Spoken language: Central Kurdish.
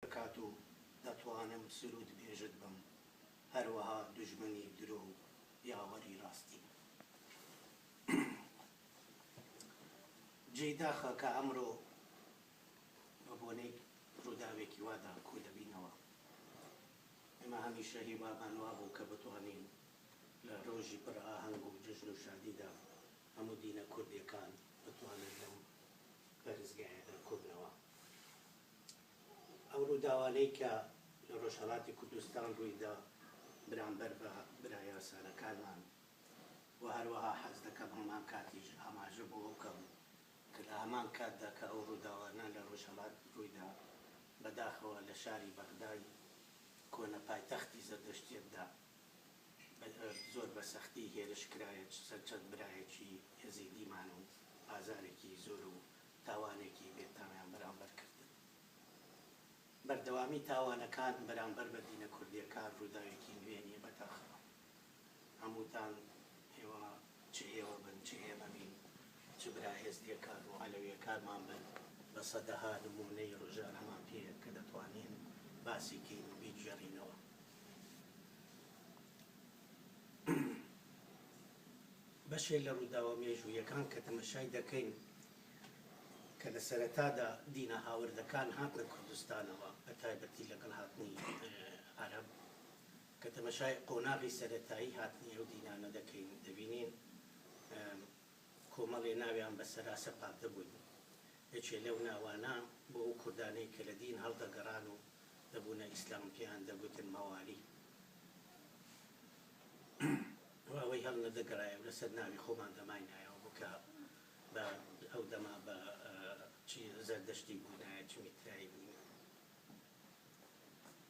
بکات و دەتوانم سرود بێژت بم هەروەها دوژمنی درۆ و یاوەری ڕاستی بم جێی داخە کە ئەمرۆ بە بۆنەی ڕوداوێکی وادا کۆ دەبینەوە ئێمە هەمیشە هیوامان وابوو کە بتوانین لە ڕۆژی پڕ ئاهەنگ و جەژن و شادیدا هەموو دینە کوردێکان بتوانن لەم پەرستگایەدا کۆبنەوە. ئەو ڕووداوانەی کە لە ڕۆژهەڵاتی کوردستان ڕوویدا بەرامبەر بە برا یاسارەکانمان و هەروەها حەز دەکەم هەمان کاتیش ئاماژە بۆ ئەو بکەم کە لە هەمان کاتدا کە ئەو ڕووداوانە لە ڕۆژهەڵات ڕوویدا بەداخەوە لە شاری بەغدای کۆنە پایتەختی زەردەشتیەتدا زۆر بە سەختی هێرش کرایە سەر چەند برایەکی یەزیدیمان و ئازارێکی زۆر و تاوانێکی بێتامیان بەرامبەر کردن. بەردەوامی تاوانەکان بەرامبەر بە دینە کوردیەکان ڕووداوێکی نوێ نیە بەداخەوە. هەمووتان ئێوە چ ئێوە بن چ ئێمە بین چ برا ئێزدیەکان و عەلەویەکانمان بن بە سەدەها نموونەی ڕژانەمان پێیە کە دەتوانین باسی کەین و بیگێڕینەوە. بەشێک لە ڕووداوە مێژووییەکان کە تەمەشای دەکەین کە لە سەرەتادا دینە هاوردەکان هاتنە کوردستانەوە بە تایبەتی لەگەڵ هاتنی عەرەب کە تەمەشای قۆناغی سەرەتایی هاتنی ئەو دینانە دەکەین دەبینین کۆمەڵێ ناویان بە سەرا سەپاردەبووین یەکێ لەو ناوانە بۆ ئەو کوردانەی کە لە دین هەڵدەگەڕان و دەبوونە ئیسلام پێیان دەگوتن مەوالی و ئەوەی هەڵ نەدەگەرایە و لەسەر ناوی خۆمان دەماینایە و بووکە بە ئەو دەما بە چ زەردەشتی بووینایە چ میترایی بووینایە.